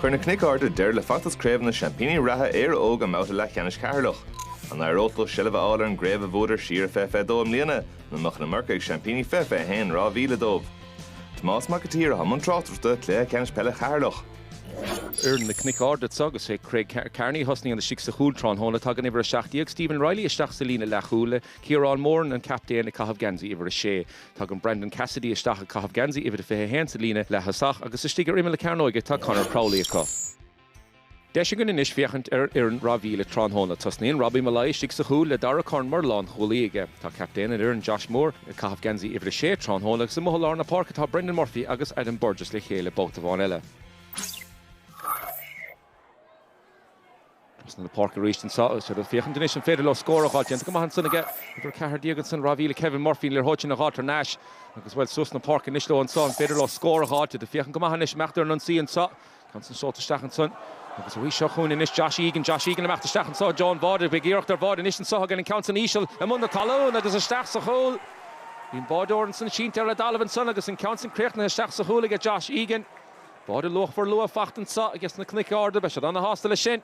Chuir na Cnoic Arda deireadh le feachtas craobh na seaimpíní reatha, Éire Óg, i mbabhta leathcheannais Cheatharlach. An n-éireodh leo seilbh a fháil ar an gcraobh a bhuadar siar i 2022 i mbliana nó an mbeadh an iomarca ag seaimpíní 2021, Ráth Bhile, dóibh? Tomás Mac a' tSaoir atá i mbun tráchtaireachta cluiche ceannais peile Cheatharlach. Foireann na Cnoic Arda anso agus is é Craig Carney a thosnaíonn istigh sa chúl tráthnóna. Tagann uimhir 17, Stephen Reilly, isteach sa líne leathchúil le Ciarán Moran, an captaen, ag caitheamh geansaí uimhir a sé. Tagann Brendan Cassidy isteach ag caitheamh geansaí uimhir a 21 sa líne leaththosach agus istigh ar imeall na cearnóige tá Conor Crowley acu. Deis againn anois féachaint ar an fhoireann Ráth Bhile tráthnóna. Tosnaíonn Robbie Molloy istigh sa chúl le Darragh Curran mar lánchúlaí aige. Tá captaen an fhoireann, Josh Moore, ag caitheamh geansaí uimhir a 6 tráthnóna agus amuigh i lár na páirce tá Brendan Murphy agus Adam Burgess le chéile babhta amháin eile. Sna na páirce arís anso. Seo iad ag féachaint anois an féidir leo scór a dh'fháil. Déanta go maith ansan aige uimhir a ceathair déag ansan, Ráth Bhile, Kevin Murphy, an liathróid sin a dh'fháil thar n-ais agus, bhuel, suas na páirce anois leo anso. An féidir leo scór a dh'fháil? Iad ag féachaint go maith anois. Imeacht ar an ionsaí anso. Ceann san seolta isteach ansan. Agus arís seo chugainn anois Josh Egan. Josh Egan ag imeacht isteach anso. I dtreo an bháide, beidh iarracht ar bháide anois anso. Thug an ceann san íseal i mbun na talún agus isteach sa chúl. Bhí an báideoir ansan sínte ar an dtalamh ansan agus an ceann san críochnaithe isteach sa chúl aige Josh Egan. Báide luachmhar luath fachta anso aige sna Cnoic Arda. Beidh siad ana-shásta leis sin.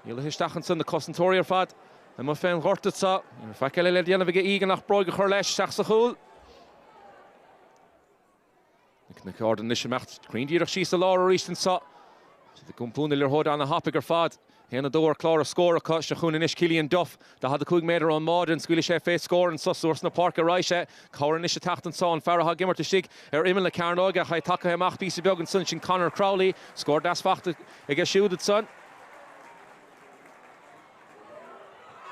Níl luiche isteach anso, na cosantóirí ar fad amuigh fén ghort anso. Ní raibh faic eile le déanamh aige Egan ach bróig a chur leis isteach sa chúl. Na Cnoic Arda anois imeacht cruinn díreach síos i lár aríst anso. Iad ag iompú na liathróide ana-thapaidh ar fad. Haon a dó ar chlár na scór acu, seo chugainn anois Cillian Duff, 45 méadar ón mbáide, an scaoilfidh sé fé scór anso nó trasna páirce a raghaidh sé? Cabhair anois ag teacht anso, an fear atá ag imirt istigh ar imeall na cearnóige, ach é tagtha amach píosa beag ansan, sin Conor Crowley, scór deas fachta aige siúd ansan.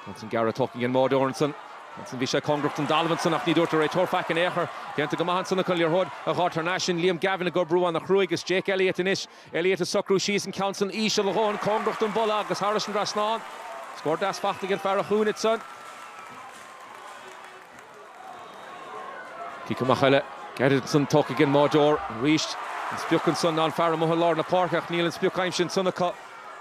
Ceann san gairid tógtha ag an mbáideoir ansan, ceann san bhí sé cóngarach don dtalamh ansan ach ní dúirt an réiteoir faic in aon chor. Déanta go maith ansan acu an liathróid a ghoid thar n-ais, sin Liam Gavin ag obair ana-chruaidh is Jake Elliott anois, Elliott ag socrú síos an ceann san íseal a dhóthain cóngarach don bpolla agus thairis an trasnán. Scór deas fachta ag an fear sa chúinne san. Cic amach eile, gairid ansan, tógtha ag an mbáideoir. Arís, an sprioc ansan ná an fear amuigh i lár na páirce ach níl an sprioc aimsithe ansan acu.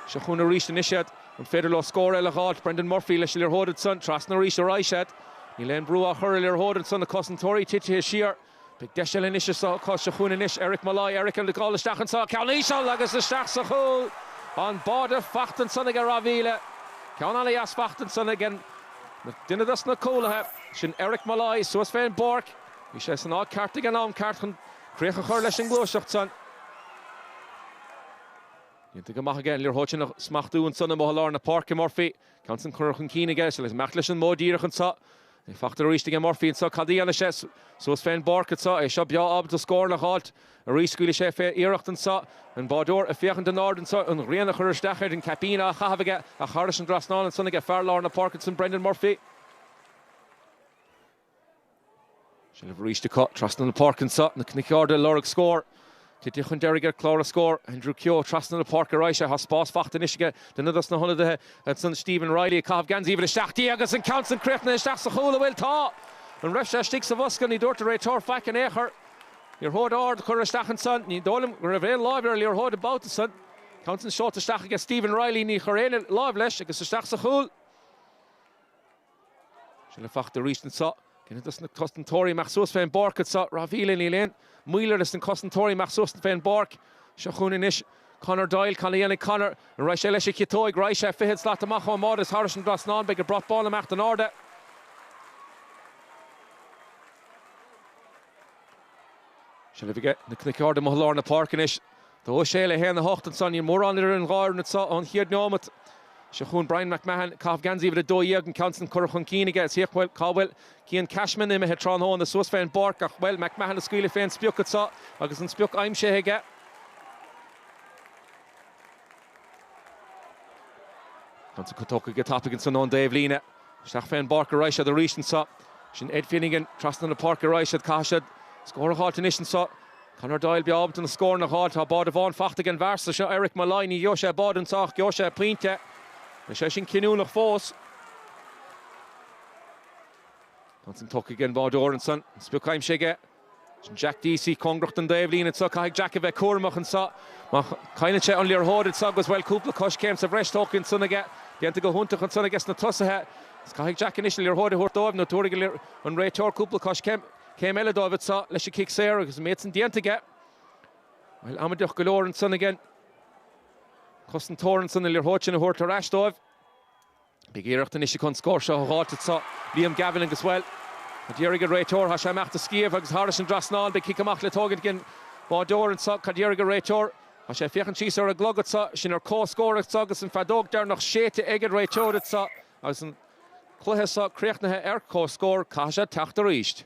Seo chugainn arís anois iad. An féidir leo scór eile a dh'fháilt? Brendan Murphy leis an liathróid ansan. Trasna arís a raghaidh siad. Níl aon brú á chur ar liathróid ansan na cosantóirí titithe siar. Beidh deis eile anois anso acu, seo chugainn anois, Eric Molloy, Eric ag gabháil isteach anso, ceann íseal agus isteach sa chúl, an báide fachta ansan aige Ráth Bhile. Ceann ana-dheas fachta ansan aige duine dos na cúlaithe, sin Eric Molloy, suas fén bpáirc. Bhí sé san áit ceart ag an am ceart chun críoch a chur leis an ngluaiseacht san. Déanta go maith aige, an liathróid sin a smachtú ansan amuigh i lár na páirce, Murphy. Ceann san curtha chun cinn aige, agus imeacht leis an modh díreach anseo. Í fachta arís aige Murphy anseo, cad a dhéanfaidh sé? Suas fén bpáirc anseo, é seo breá ábalta scóranna a dh'fháilt arís. Scaoilfidh sé fé iarracht anseo, an báideoir ag féachaint in airde anseo, an ghrian ag cur isteach air, an caipín á chaitheamh aige, ach thairis an dtrasnán ansan aige fear lár na páirce ansan, Brendan Murphy. Seilbh arís acu trasna na páirce anseo, Na Cnoic Arda ag lorg scóir. Tite chun deiridh ar clár a scór, Andrew Keogh, trasna na páirce arís. Tá spás fachta anois aige, duine dos na hionadaithe ansan, Stephen Reilly, ag caitheamh geansaí uimhir a seacht déag agus an ceann san críochnaithe isteach sa chúl. An bhfuil? Tá! An raibh sé istigh sa bhosca? Ní dúirt an réiteoir faic in aon chor. Liathróid ard a cuireadh isteach ansan. Ní dóigh liom go raibh aon láimh ar an liathróid an babhta san. Ceann san seolta isteach aige Stephen Reilly, ní chuir éinne láimh leis, agus isteach sa chúl. Seilbh fachta arís anso ag duine dos na cosantóirí amach suas fén bpáirc anso. Ráth Bhile, níl aon mhoill ar sna cosantóirí amach suas fén bpáirc. Seo chugainn anois Conor Doyle. Cad a dhéanfaidh Conor? An raghaidh sé leis an gciotóig? Raghaidh sé fichead slat amach ón mbáide is thairis an dtrasnán. Beidh an brat bán imeacht in airde. Seilbh aige Na Cnoic Arda amuigh i lár na páirce anois. 2, 6 le 1, 8, ansan níl mórán idir an dhá fhoireann anseo ón chéad neomat. Seo chugainn Bryan McMahon, caitheamh geansaí uimhir 12, an ceann san curtha chun cinn aige is féach, bhuel, cá bhfuil Cian Cashman imithe? Tráthnóna suas fén bpáirc ach, bhuel, McMahon ag scaoileadh fén sprioc anseo agus an sprioc aimsithe aige. Ceann san tógtha go tapaidh ansan ón dtaobhlíne. Isteach fén bpáirc a raghaidh siad arís anso. Sin Ed Finnegan. Trasna na páirce a raghaidh siad. Caithfidh siad scór a dh'fháilt anois anso. Conor Doyle breá ábalta na scóranna a dh'fháilt. Tá báide amháin fachta ag an bhfear so, seo Eric Molloy. Ní gheobhaidh sé báide anso ach gheobhaidh sé pointe. Beidh sé sin cinniúnach fós. Ceann san tógtha aige an báideoir ansan. Sprioc aimsithe aige. Jack Deasy cóngarach don dtaobhlíne anseo. Caithfidh Jack a bheith cúramach anseo. Má chailleann sé an liathróid anseo agus, bhuel, cúpla coiscéim sa bhreis tógtha anseo aige. Déanta go hiontach anseo aige sna tosaithe. Agus caithfidh Jack anois an liathróid a thabhairt dóibh nó tabharfaidh an réiteoir cúpla coiscéim, céim eile dóibh anseo leis an gcic saor agus an méid san déanta aige. Bhuel, amaideach go leor anseo aige an cosantóir anseo an liathróid sin a thabhairt ar ais dóibh. Beidh iarracht anois acu an scór seo a dh'fháilt anso, Liam Gavin agus, bhuel, cad déarfaidh an réiteoir. Tá sé imeacht a' sciamh agus thairis an dtrasnán. Beidh cic amach le tógaint aige an báideoir anso. Cad déarfaidh an réiteoir? Tá sé ag féachaint síos ar an gclog anso. Sinn ar comhscór anso agus an feadóg deireanach séidte ag an réiteoir anso agus an cluiche so críochnaithe ar comhscór. Caithfidh sé teacht arís.